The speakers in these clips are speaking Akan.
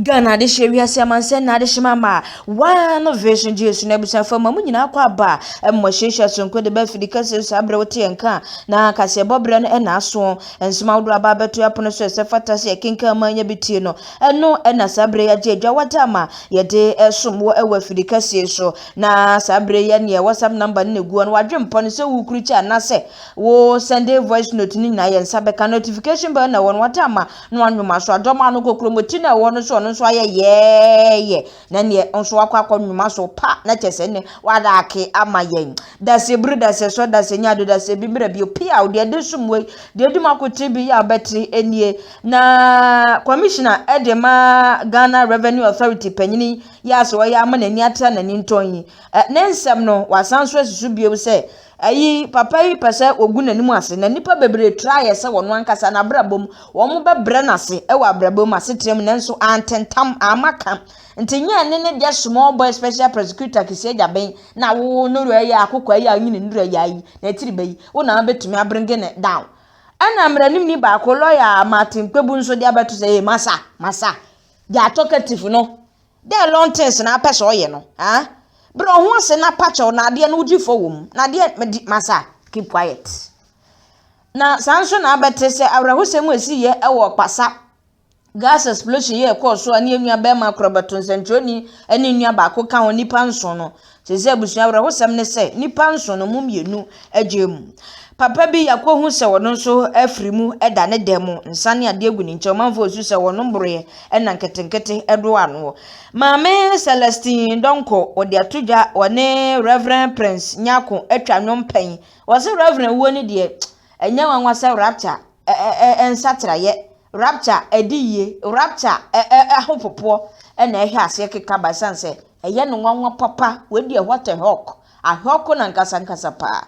ghana adehyeɛ wiase amansɛ na adehyema ma waa no vision gye esu na abusuafo ma mu nyinaa kɔ aba mmɔ hyehyɛ sonko de bɛfi de kɛse so abrɛ wote yɛn ka na kaseɛbɔ berɛ no ɛna aso nsɛm ahodoɔ aba abɛto ɛpono so ɛsɛ fata sɛ yɛkenkan ma anya bi tie no Ɛno na saa berɛ yi agye adwa wɔ dam a yɛde som wɔ wɔ afiri kɛseɛ so. Na saa berɛ yi neɛ WhatsApp number no na ɛgu hɔ no, wadwe mpɔ no sɛ wokuru kyɛ anaasɛ wo sɛnde voice note no nyinaa yɛ nsa bɛka. Notification bell na ɛwɔ no, wata ama na wanwoma so adɔm ano kɔ kurom ti na ɛwɔ hɔ no so ɔno nso ayɛ yɛɛyɛ. Na neɛ nso wakɔ akɔ nwoma so pa na kyɛ sɛ ne wadake ama yɛn. Dase biri, dase sɔ, dase nyado, dase bi mmerɛ bio. Piaw, deɛ de som wei, deɛ edi mu akoten bi yɛ a wobɛte nie. Na Commissioner de ma Ghana Revenue Authority panyini yi a sɛ ɔyɛ a ama n'ani ate a n'ani ntɔn yi, ne nsɛm no, wasan nso asi so bio sɛ Eyi, papa yi pɛ sɛ ogu n'anim ase, na nnipa bebree tra ayɛ sɛ wɔn ankasa, n'abrabɔ mu, wɔbɛbrɛ no ase wɔ abrabɔ mu, asetra mu, nanso ante ntam, amma ka. Nti nyɛ ne ne deɛ small boy special prosecutor kisiɛ gyaben na wowoo no rɛ yi a akokoa yi a ɔnyi ne nnura yaa yi, na tiri bɛ yi, wo na wobɛtumi abringe no down. Ɛna mmaranimni baako, lawyer Martin Kpebu nso de abɛto sɛ, ee, masa, masa, deɛ talkative no, Dɛn long things na apɛ sɛ ɔyɛ no ah brɛ wo ho ase na pa kyɛw na adeɛ no wogye fɔ wɔ mu na adeɛ medi masa keep quiet na saa nso na abɛte sɛ awerɛhosɛm a ɛsi yɛ ɛwɔ ɔkpasa gas explosion yɛ ɛkɔɔ so a ne yɛn nua bɛrima korɔ bɛto nsɛnkyerɛni ne nua baako ka ho nipa nson no Seesei abusua awerɛhosɛm ne sɛ nnipa nson no mu mmienu agyae mu. Papa bi akohu sɛ ɔno nso afiri mu da ne dan mu, nsa ne adeɛ gu ne nkyɛn. Ɔmanfoɔ resu sɛ wɔnom boroeɛ na nketenkete doa ano. Maame Celestine Donkor, wɔde ato dwa, ɔne Rev. Prince Nyarko atwa nnwom pɛn. Wɔse Rev. wuo no deɛ, ɛnyɛ nwanwa sɛ rapture nsakyeraeɛ, rapture adiyie, rapture ahopopoɔ na ɛhwɛ aseɛ keka ba ɛsiane sɛ Ɛyɛ no nwanwa papa. Wei deɛ what a hɔk. Ahɔko no ankasa ankasa paa.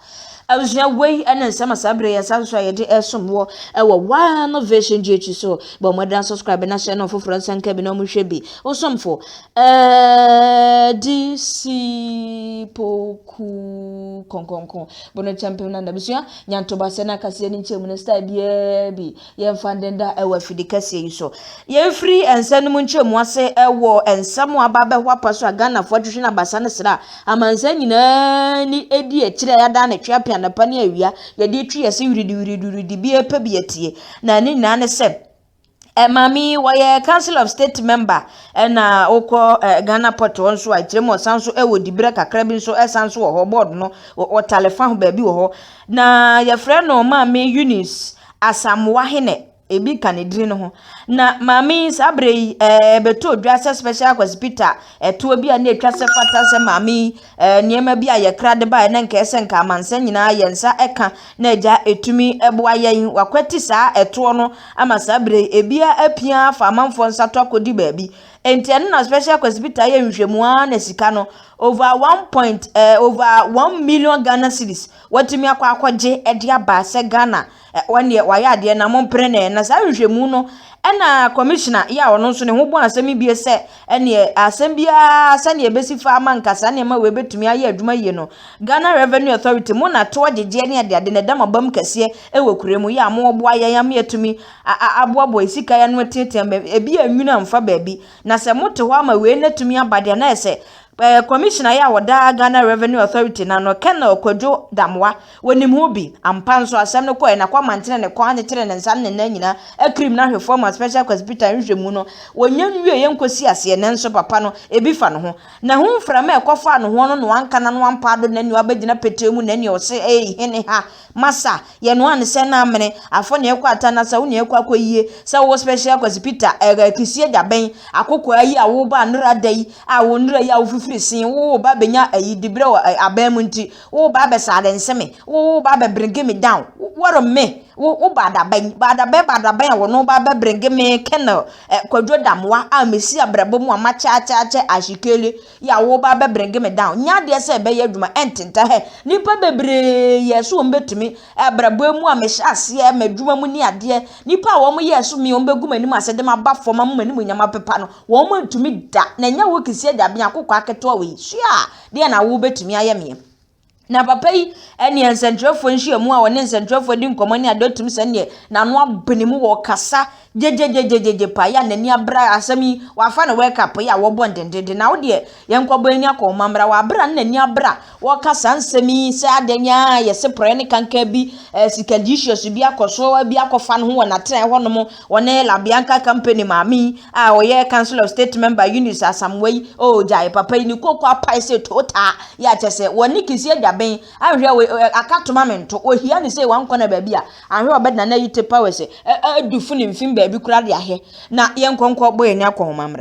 Abusua wei ne nsɛm a saa berɛ yi asan so a yɛde ɛsom wɔ ɛwɔ One Vision GH so. Bɔ mmɔden asubscribe na hyɛ no foforɔ nsa nka bi na wɔn hwɛ bi. Osomfo Adisipo Ku Kɔnkɔnkɔn Bono Kyɛmpem na n'abusua Nyantoba sɛ n'akaseɛ ne nkyɛmu no style biara bi. Yɛmfa nnɛ da wɔ afidi kɛseɛ yi so. Yɛmfiri nsɛm no mu nkyerɛmu ase wɔ nsɛm a aba abɛho apa so a Ghanafoɔ twetwe no abasa no sra amansan nyinaa ni ɛdi akyire a yɛadan ne twe apia anapa ne awia yɛde atwi yɛ se wiridi wiridi wiridi bi ɛpɛ bi atie na ne nyinaa ne sɛ Maame yi wɔyɛ Council of State member ɛna wokɔ Ghana Port hɔ nso a akyerɛ mu ɔsan nso wɔ diberɛ kakra bi nso ɛsan nso wɔ hɔ board no ɔtale fa ho baabi wɔ hɔ na yɛfrɛ no Maame Eunice Asamoah Hene, ebi ka ne din no ho. Na maame yi, saa berɛ yi, ɛɛ bɛtoo dwa sɛ special kwasipita a ɛtoɔ bi a na ɛtwa sɛ fata sɛ maame yi ɛɛ nneɛma bi a yɛkra de baeɛ na nkɛɛ sɛ nka amansan nyinaa yɛn nsa ɛka na agya ɛtumi ɛboa yɛn. Wakwati saa ɛtoɔ no ama saa berɛ yi ɛbia apia afa amanfoɔ nsa to akɔdi baabi. Enti ɛno na special kwasipita yɛ nhwehwɛmu ara na sika no over one point ɛɛ over one million Ghana cedis Watumi akɔ akɔgye de aba sɛ Ghana wɔn deɛ wɔayɛ adeɛ na mompere no ɛ. Na saa nhwehwɛmu no ɛna kɔmishina yɛ a ɔno nso ne ho bɔ asɛm yi bie sɛ ɛneɛ asɛm biara sɛdeɛ ɛbɛsi fa ama nka saa nneɛma wei bɛtumi ayɛ adwuma yie no Ghana Revenue Authority mo na toɔ gyegyeɛ ne adeade na ɛda mo abam kɛseɛ ɛwɔ kura mu yɛ a moɔboa yɛn ama yɛatumi aboaboa yɛ sika yɛ ano ateatea ma ebi anwunu amfa baabi. Na sɛ mote hɔ ama wei no atumi aba deɛ na ɛsɛ Eh, Commissioner yi a ɔda Ghana Revenue Authority no ano, Colonel Kwadwo Damoa, wɔnim ho bi. Ampa nso, asɛm no kɔe, na Kwame Antenɛ ne kɔn akyekyere ne nsa ne ne nan nyinaa akirim no ahwɛ fam ma Special Kwasipitan nhwehwɛmu no. Wɔnnya nwieeɛ nkɔsi aseɛ, nanso papa no, ebi fa ne ho. Na ɛho mframa a ɛkɔfaa nohoɔ no na wanka n'ano ampaa do, na ɛnneɛ wabɛgyina petee mu, na ɛnneɛ ɔse, Ei, hene ha, Masa, yɛ noa ne sɛ na amene, afɔ ne ɛkɔ ata na sa wo ne ɛkɔ akɔ yie, sɛ wo wɔ special akwasi pita, ɛrɛ, kisie gya bɛn, akokoaa yi a wo ba nnera da yi, a wo nnera yi a wo fifiri see, wo wo ba bɛnya ayi dibrɛ wɔ ɛ, abɛn mu nti, wo wo ba bɛsa adɛ nse me, wo wo ba bɛ bringe me down, wo worry me, wo wo ba da bɛn, ba da bɛn, ba da bɛn a wo no ba bɛ bringe me, Colonel, ɛ, Kwadwo Damoah a mesi abrɛbɔ mu a makyɛ akyɛ akyɛ, Ashikele. Yɛ a woba bɛ bringe me down nyɛ adeɛ sɛ ɛbɛyɛ adwuma ɛntentɛ hɛ nipa bebree yɛɛ so wɔn bɛtumi abrabɔɛ mu a me hyɛ aseɛ madwuma mu ne adeɛ nipa a wɔn yɛɛ so me wɔn bɛgu m'anim ase de maba fɔm ama m'animuonyam apepa no wɔn antumi da na nyɛ wo keseɛ da biako kwaa ketewa wei sua deɛ na wo bɛtumi ayɛ meɛ. Na papa yi ne nsɛnkyerɛfoɔ nhyiamu a ɔne nsɛnkyerɛfoɔ di nkɔmmɔ ne adeɛ ɔtumi sɛ neɛ n'ano abene mu wɔ kasa gyegyegyegyegye paa yɛ a n'ani abra asɛm yi wafa no wake up yɛ a wɔbɔ ndendenden na wo deɛ yɛnkɔbɔ ani akɔ ɔma mmra wabra ne n'ani abra wɔka saa nsɛm yi sɛ adɛn yɛ se porɔɛ ne kanka bi eh, sika issues bi akɔ so bi akɔfa no ho wɔ n'atenaeɛ hɔnom Wɔne La Bianca Company maame yi a ɔyɛ Council of State member Eunice Asamoah yi ɔɔgyae papa yi ne koko apae sɛ tootaa yi a kyɛ sɛ wɔne Kisi agya bɛn anhwɛ wɔ ɛ aka toma me nto ɔhia ne sɛ wankɔ na baabi a anhwɛ ɔbɛ na na yi te pa wɔ sɛ ɛ ɛ du fo ne mfem baabi koraa de ahwɛ na yɛnkɔ nkɔ bɔ yɛn akɔnhoma mmra.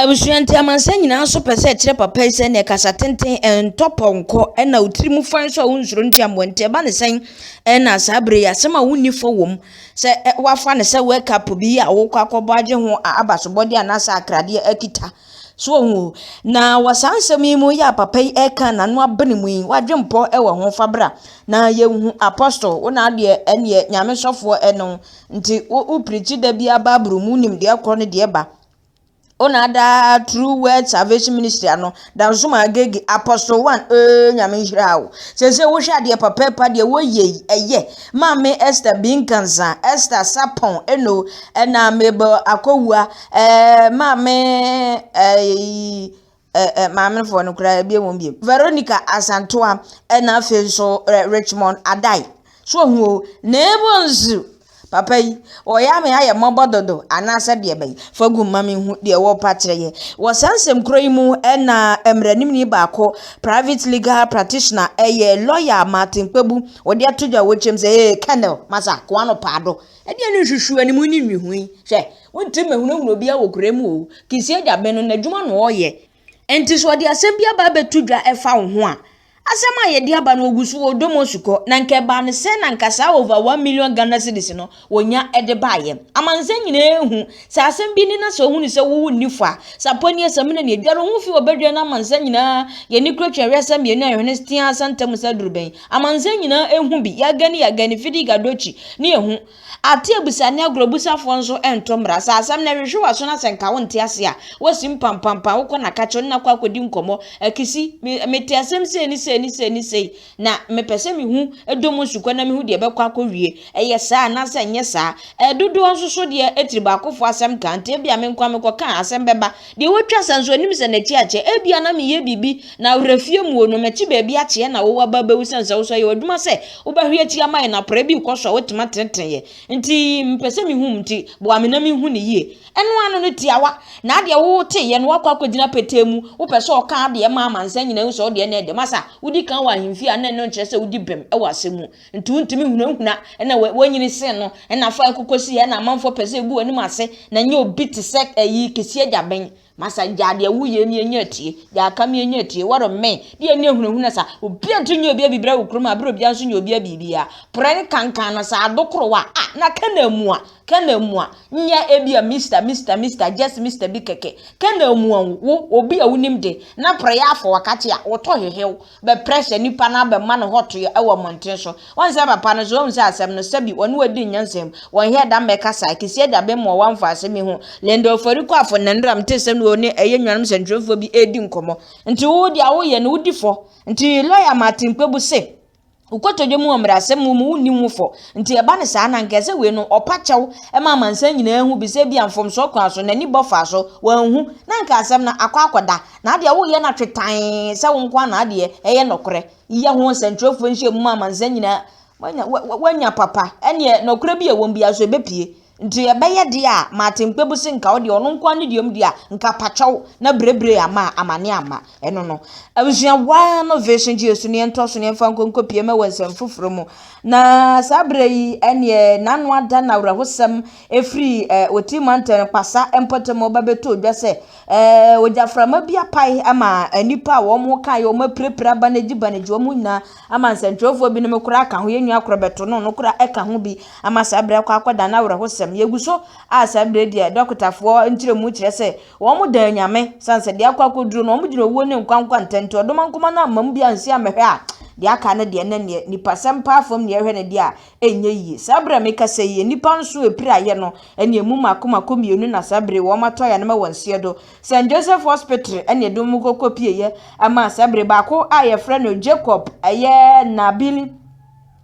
Abusua nti amansan nyinaa nso pɛ sɛ ɛkyerɛ papa yi sɛ nea kasa tenten, ɛntɔ pɔnkɔ, ɛnna otirim fa nso a wonsuro ntua mmoa nti ɛba ne sɛn? Ɛnna saa bere yi asɛm a wonni fɔ wom sɛ wɔafa no sɛ World Cup bi a wɔrekɔ akɔbɔ agye ho abasobɔde anaasɛ akradeɛ akita. So ohu? Na wɔ saa nsɛm yi mu yɛ a papa yi ɛka n'ano abene mu yi, w'adwempɔ wɔ ho fa bra na yɛnhu apostle wo na adeɛ ɛneɛ nyame sɔfoɔ ɛno Ntsi wo wo pirikyi da bia Bible mu nyimdeɛ kor no deɛ ba. Ona adaa True Word Salvation Ministry ano, Dansoman Agege, Apostle One, ee Nyame nhyira wo. Sese wo hwɛ adeɛ papaapa deɛ wo yɛ yi, ɛyɛ, Maame Esther Binkansa, Esther Sapon, eno, ɛna Mabel Akowua, ɛɛ Maame, ɛɛ, ɛ ɛ maamefoɔ no koraa ɛbie wɔn biem Veronica Asantewaa ɛna afei nso ɛ Richmond Adai so ohun o na ebo nso papa yi wɔyɛ ame ayɛ mmɔbɔ dodo anaasɛ deɛ bɛyi fa gu mma me hu deɛ wɔpa kyerɛ yɛ wɔ saa nsɛm korɔ yi mu ɛna mmaranimni baako private legal practitioner ɛyɛ lawyer Martin Kpebu wɔde ato dwa wɔ kyɛm sɛ ee Colonel masa koano paado Ebia no nhwehwɛ anim ne nwihui. Hwɛ, wontumi mmɛhunahuna obiara wɔ kura mu o. Kisia de abɛn no, n'adwuma na ɔreyɛ. Enti sɛ ɔde asɛm bi aba abɛto dwa ɛfa wo ho a, asɛm a yɛde aba no ɔgu so wɔ ɔdɔ mu ɔsu kɔ. Na anka ɛbaa no sɛn na anka saa over one million Ghana cedis no ɔnya de baeɛ. Amansan nyinaa ahu. Sɛ asɛm bi ni na sɛ ɔhunu sɛ wo wo nni fɔ a, sapɔ ni asamina ni, ɛdware wo ho fi wɔ badwa na amansan nyinaa, yɛn ani kura twɛn wɛsa mmienu a yɛhwene tea santa mu sɛ aduru bɛn. Amansan nyinaa ehu bi, yaga ne yaga ne fidi gadokyi ne ehu. Ate abusa ne agorɔbusafoɔ nso nto mmra. Sɛ asɛm no hwehwe w'aso na sɛ nka wonte ase a, woasi mpampampan, wokɔ no aka kyerɛ no na akɔ akɔdi nkɔmmɔ. Akisi, me, mete asɛm sei ne sei ne sei ne sei, na mepɛ sɛ mehu dɔm nsukɔ na mehu deɛ ɛbɛkɔ akɔwie. Ɛyɛ saa anaasɛ ɛnyɛ saa? Ɛɛ, dodoɔ nso so deɛ, tiri baakofoɔ asɛm ka, nti ebia me nko ara mekɔka a, asɛm bɛba. Deɛ watwa sa nso nim sɛ n'akyi akyɛ. Ebia na meyɛ biribi na awerɛ fie mu o, na m'akyi baabi akyeɛ na wo aba abɛwu sɛn sɛ wo nso ɛyɛ w'adwuma sɛ wobɛhwe akyi ama yɛn na prɛ bi rekɔ so a woatumi atenetene yɛn. Nti mepɛ sɛ mehu wo nti boa me na menhu no yie. Ɛno ano no tiawa. Na adeɛ wo teeɛ no woakɔ akɔgyina petee mu, wopɛ sɛ ɔka adeɛ ma amansan nyinaa hu sɛ wo deɛ na ɛdɛ. Masa, wodi kan wɔ ahemfie a na ɛno nkyerɛ sɛ wodi bem wɔ asɛm mu. Nti wontumi nhunahuna na wonyini sen no, na fa ɛko kosi yɛ na amanfoɔ pɛ sɛ ɛgu w'anim ase, na nyɛ obi te sɛ ayi kɛsi agya bɛn. Masa gyaa deɛ woyɛ ni ɛnyɛ atie, gyaa aka mi ɛnyɛ atie, what a man, deɛ ɛni ahunahuna sa, obia nti nyɛ obia bibira wo kurom a bere obia nso nyɛ obia bibia, prɛ ne kankan no sa ado koro wa a, na kɛ na amua, kɛ na amua, nyɛ ɛbia Mister, Mister, Mister, just Mister bi kɛkɛ, kɛ na amua wo, wo, obia wonim de, na prɛ yɛ afɔ wakate a, wotɔ hehew, bɛprɛ sɛ nipa no abɛma no hɔtoyɛ wɔ mmɔnten so. Wɔn sɛ papa no so ohu sɛ asɛm no sɛbi wɔne wadi nyansa mu. Wɔn yɛ dam bɛkasa a, Kisiɛ gya bem wɔ wɔn mfaase bi ho. Linda Ofori Kuafo Nandram te sɛ nea ɔne ɛyɛ nuanom sɛnkyerɛwfoɔ bi redi nkɔmmɔ. Nti wo deɛ a woyɛ no wodi fɔ. Nti lɔya Martin Kpebu se, Wo kotodwe mu wɔ mmarahyɛ mu mu wonni ho fɔ. Nti ɛba no saa no a, anka ɛsɛ wei no ɔpa kyɛw ma amansan nyinaa hu bi sɛ ebia mfomsoɔ kwan so n'ani bɔ faa so, wanhu, na anka asɛm no akɔ akɔda. na adeɛ a woyɛ no atwetann sɛ wo nko na adeɛ ɛyɛ nɔkorɛ yɛ ho nsɛntwerɛfoɔ nhyia mu amansa nyinaa wanya papa ɛneɛ nɔkorɛ bi a ɛwɔ biara so ɛbɛpie nti ɛbɛyɛ deɛ a maate mpebu se nka wo deɛ ɔno nko ne deɛ deɛ a nka pakyɛw na berebere ama amane ama ɛno no abusua waa no vision gye so neɛ ntɔ so neɛ mfa nkonko pie ma wɔ nsɛm foforɔ mu na saa berɛ yi ɛneɛ n'ano ada na awerɛhosɛm ɛfiri eh, ɔti mantan pasa mpɔtam ɔba bɛtɔ dwa sɛ Ɛɛ, ogyaframa bi apae ama nnipa a wɔn ho kae, wɔn apirapira aba no agyi ba no agyi wɔn nyinaa ama nsɛntwerɛfoɔ binom koraa aka ho. Yɛn nua korɔ bɛto no, ɔno koraa ɛka ho bi ama saa berɛ kɔ akɔda no awerɛhosɛm. Yɛgu so a saa berɛ deɛ dɔkotafoɔ nkyerɛmu kyerɛ sɛ wɔn da anyame, sane sɛ deɛ akɔ akɔduro no wɔn gyina owuo ne nkwa nkwa ntam nti ɔdoma nkoma no ammam bi ansi ammɛhwɛ a deɛ aka no deɛ na neɛ nipasɛm paa fam neɛ ɛhwɛ no deɛ a ɛnyɛ yie. Saa berɛ a mekasa yi, nnipa nso ɛpiri ayɛ no ɛne ɛmu mako mako mmienu na saa berɛ wɔn atɔ ayɛ no ma wɔn nseɛ do. St. Joseph Hospital ɛne ɛde wɔn kɔkɔ pieeɛ ɛma saa berɛ baako a yɛfrɛ no Jacob ɛyɛ Nabil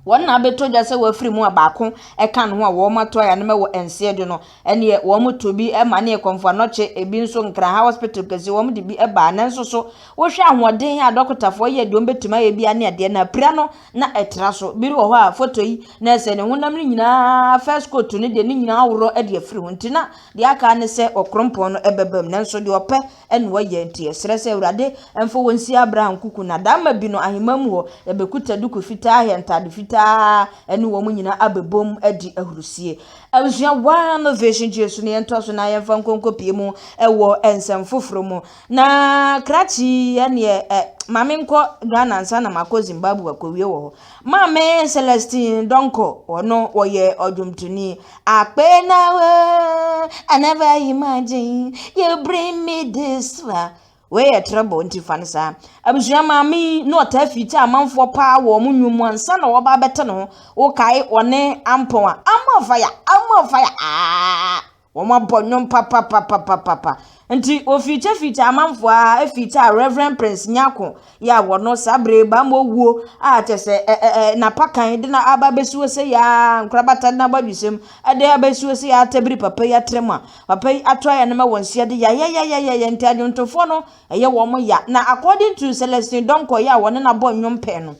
wɔn na abɛtɔ dwa sɛ wɔafiri mu a baako ɛka no ho a wɔn atɔ ayɛ no ma wɔ nseɛ do no ɛneɛ wɔn to bi ɛma ne ɛkɔmfo anɔkye ebi nso nkraha hospital kɛseɛ wɔn de bi ɛbaa nanso so wohwɛ ahoɔden a dɔkotafoɔ yɛ deɛ wɔn bɛtumi ayɛ bia ne adeɛ no apira no na ɛtra so. Biri wɔ hɔ a foto yi na ɛsɛ ne honam no nyinaa first coat no deɛ ne nyinaa aworɔ de afiri ho nti na deɛ aka ne sɛ ɔkrompɔn no ɛbɛbam nanso deɛ ɔpɛ ɛna ɔyɛ nti yɛsrɛ sɛ awurade ɛmfa wɔn nsi Abraham kuku na dama bi no ahemman mu hɔ yɛbɛkuta duku fitaa hyɛ ntaade fitaa ɛne wɔn nyinaa abɛbom adi ahurusie abusua one vision Jesu ne yɛntoa so na yɛmfa nkonko pie mu ɛwɔ nsɛm foforɔ mu Na krakye yi ɛneɛ ɛ ma me nkɔ Ghana ansa na makɔ Zimbabwe akɔwie wɔ hɔ. Maame Celestine Donkor ɔno ɔyɛ ɔdwomtoni. Akpɛɛ na wɛɛ I never imagine you bring me this far. Wei yɛ treble nti fa no saa. Abusua maame yi na ɔtaa fiikyɛ amanfoɔ paa wɔ ɔmo nnwom mu ansa na wɔba abɛte ne ho. Wokae ɔne Ampɔn a, Ampɔn fire, Ampɔn fire aaah. Wɔabɔ nnwom papapapapapa. Nti wɔfiikyɛfiikyɛ amanfoɔ ara fiikyɛɛ Rev. Prince Nyarko Yaw no saa berɛ yi, baa mu owuo a kyerɛ sɛ ɛ ɛ ɛ n'apakan de na aba abɛsi hɔ sei ara, nkorabata de na abɔ awisɛm de abɛsi hɔ sei ara tabiri papa yi atra mu a, papa yi ato ayɛ no ma wɔn si ade yayayayayaya nti adwontofoɔ no ɛyɛ wɔn ya. Na according to Celestine Donkor Yaw a ɔne no abɔ nnwom pɛɛ no,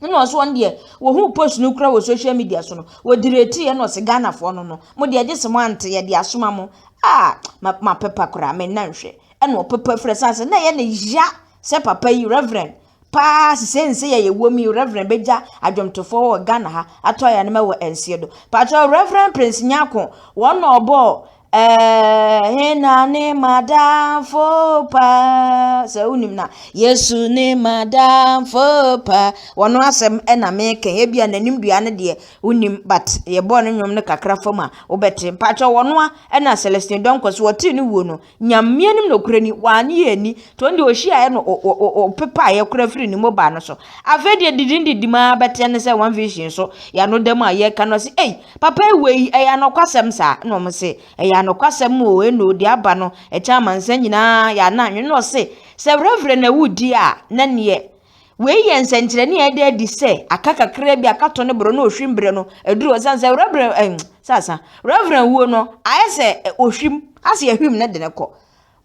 ɛna ɔso wɔn deɛ wɔhu post no kura wɔ social media so no wɔdiri etiri ɛna ɔsi ghanafoɔ no no mo deɛ gye sɛ mo ante yɛde asoma mo aa ma ma pepa koraa me nna nhwɛ ɛna ɔpepa fira san sɛ na yɛ ne ya sɛ papa yi reverend paa sisɛ nsɛ yɛ yɛ wɔm yi reverend bɛgya adwomtofoɔ wɔ ghana ha atɔ ayɛ anoma wɔ nseɛ do patro reverend prince nyako wɔn na ɔbɔɔ Eh, hena ne madamfo pa sɛ wonim na yesu ne madamfo pa wɔno asɛm ɛna meka ebi a n'anim dua no deɛ wonim but yɛbɔɔ no nnwom no kakra fam a wobɛte mpakyɛ wɔno a ɛna celestine dɔnkɔ so wɔtee no wuo no nyameɛ nim nokorɛ ni wɔanye yɛ ani Tɔn deɛ ɔhyiaeɛ no ɔpepaeɛ koraa firi ne mobile no so afei deɛ didim didim ara bɛteɛ ne sɛ one vision so yɛ ano dɛm a yɛka no ɔse ei papa yi wei ɛyɛ anɔkwasɛm saa na ɔmo se ɛyɛ anɔkwasɛm o ɛno deɛ aba no ɛkyɛ amansa nyinaa yɛ ana anwene na ɔse sɛ werɛwerɛ na ɛwo di a na neɛ wei yɛ nsɛnkyerɛnne a ɛda adi sɛ aka kakra bi aka to ne borɔ na ohwim berɛ no aduru ɔsan sɛ werɛwerɛ ɛn sasa werɛwerɛ wuo no ayɛ sɛ ohwim ase ahwim ne de ne kɔ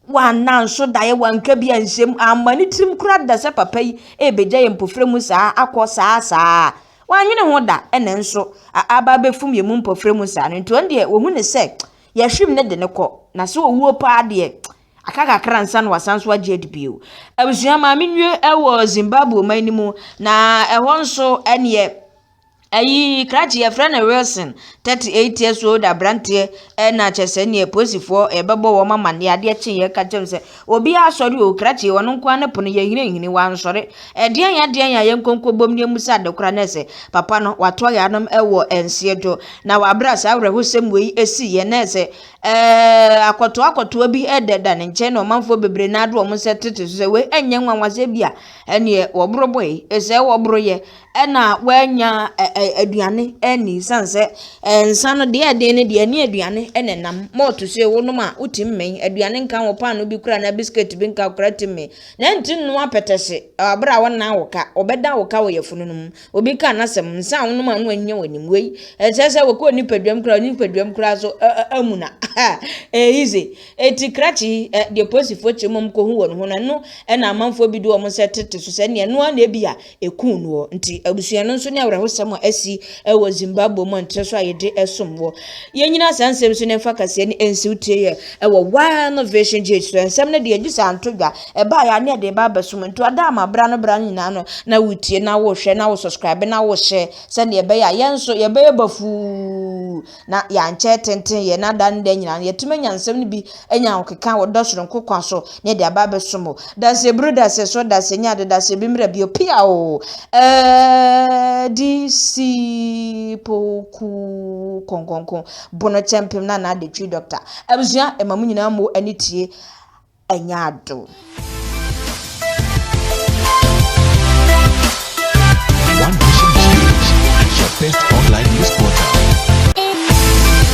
Wanna nso daeɛ, wanka bi anhyɛ mu, amma ne tirim koraa da sɛ papa yi rebɛgya yɛn mpofirɛ mu saa akɔ saa saa. Wannwene ho da, ɛna nso aba abɛfum yɛn mu mpofirɛ mu saa no nti ɔno deɛ wahu no sɛ yɛahwim no de no kɔ, na sɛ ɔwuo paa deɛ aka kakra ansa na wasan so agye adi bio. Abusua, maame nnue wɔ Zimbabwe ɔman no mu, na ɛhɔ nso ɛneɛ. Ayi krakye yɛfrɛ no Wilson, 38 years old aberanteɛ na kyɛ sɛ neɛ polisifoɔ ɛbɛbɔ wɔn amaneɛ adeɛ kyeeɛ ka kyɛm sɛ obiara sɔre o krakye ɔno nkoa ne pono yɛhinahini wansɔre ɛdeɛn ya deɛn ya yɛn nkonko bom ne mu sɛ adekora ne sɛ papa no wato ayanom ɛwɔ nseɛ do na wabra saa awerɛhosɛm wei ɛsi yɛ ne sɛ ɛɛ akɔtoɔ akɔtoɔ bi ɛdɛda ne nkyɛn na ɔmanfoɔ bebree na ado wɔn sɛ tete so sɛ wei ɛnyɛ nwanwasɛ bi a ɛneɛ wɔboro bɔe ɛsɛ wɔboro yɛ ɛna w'anya aduane anni sane sɛ nsa no deɛ ɛden no deɛ ɛne aduane ɛna ɛnam malt so yɛ wonom a wote mmɛn aduane nka wɔ paano bi kura na biscuit bi nka kura te mmɛn na nti nnoa pɛtɛse abere a wɔnna wo ka wɔbɛda wo ka wɔ yɛfono no mu obi ka n'asɛm nsa a wonom a no anya w'anim wei ɛsɛ sɛ wɔkɔ nipaduam kura nipaduam kura so amu na ɛyize eti krakye yi deɛ polisifoɔ kyerɛ mu kɔhu wɔn ho na ɛno ɛna amanfoɔ bi de wɔn sɛ tete so sɛ neɛ ɛnoa na ebi a ekum noɔ. Nti abusua no nso ne awerɛhosɛm a asi wɔ Zimbabwe mu a nkyerɛ so a yɛde som wɔ. Yɛnyina saa nsɛm so na ɛmfa kaseɛ ne ɛnsiw tie yɛ wɔ One Vision Gate so. Nsɛm no deɛ gye sɛ anto dwa, ɛbaa yɛ a ne ɛde ba abɛsom. Nti ɔda ama bra no bra no nyinaa no na wotie na wohwɛ na wo subscribe na wohyɛ sɛdeɛ ɛbɛyɛ a yɛn nso yɛbɛyɛ bafuu Na yɛankyɛ tenten yɛn ada ne daa nyinaa no, yɛatumi anya nsɛm no bi anya ahokeka wɔ dɔ soronko kwan so, na yɛde aba abɛsom o, dasɛ bere o, dasɛ sɔ, dasɛ nya ade, dasɛ bi mmra bio, pia o, Adisipokuw Kronkronkron, Bono Kyɛmpem, Nana Adetwi, Dɔkta, abusua, ɛma mo nyinaa mo ani tie ɛnyɛ adom. One Nation GH, your best online news portal.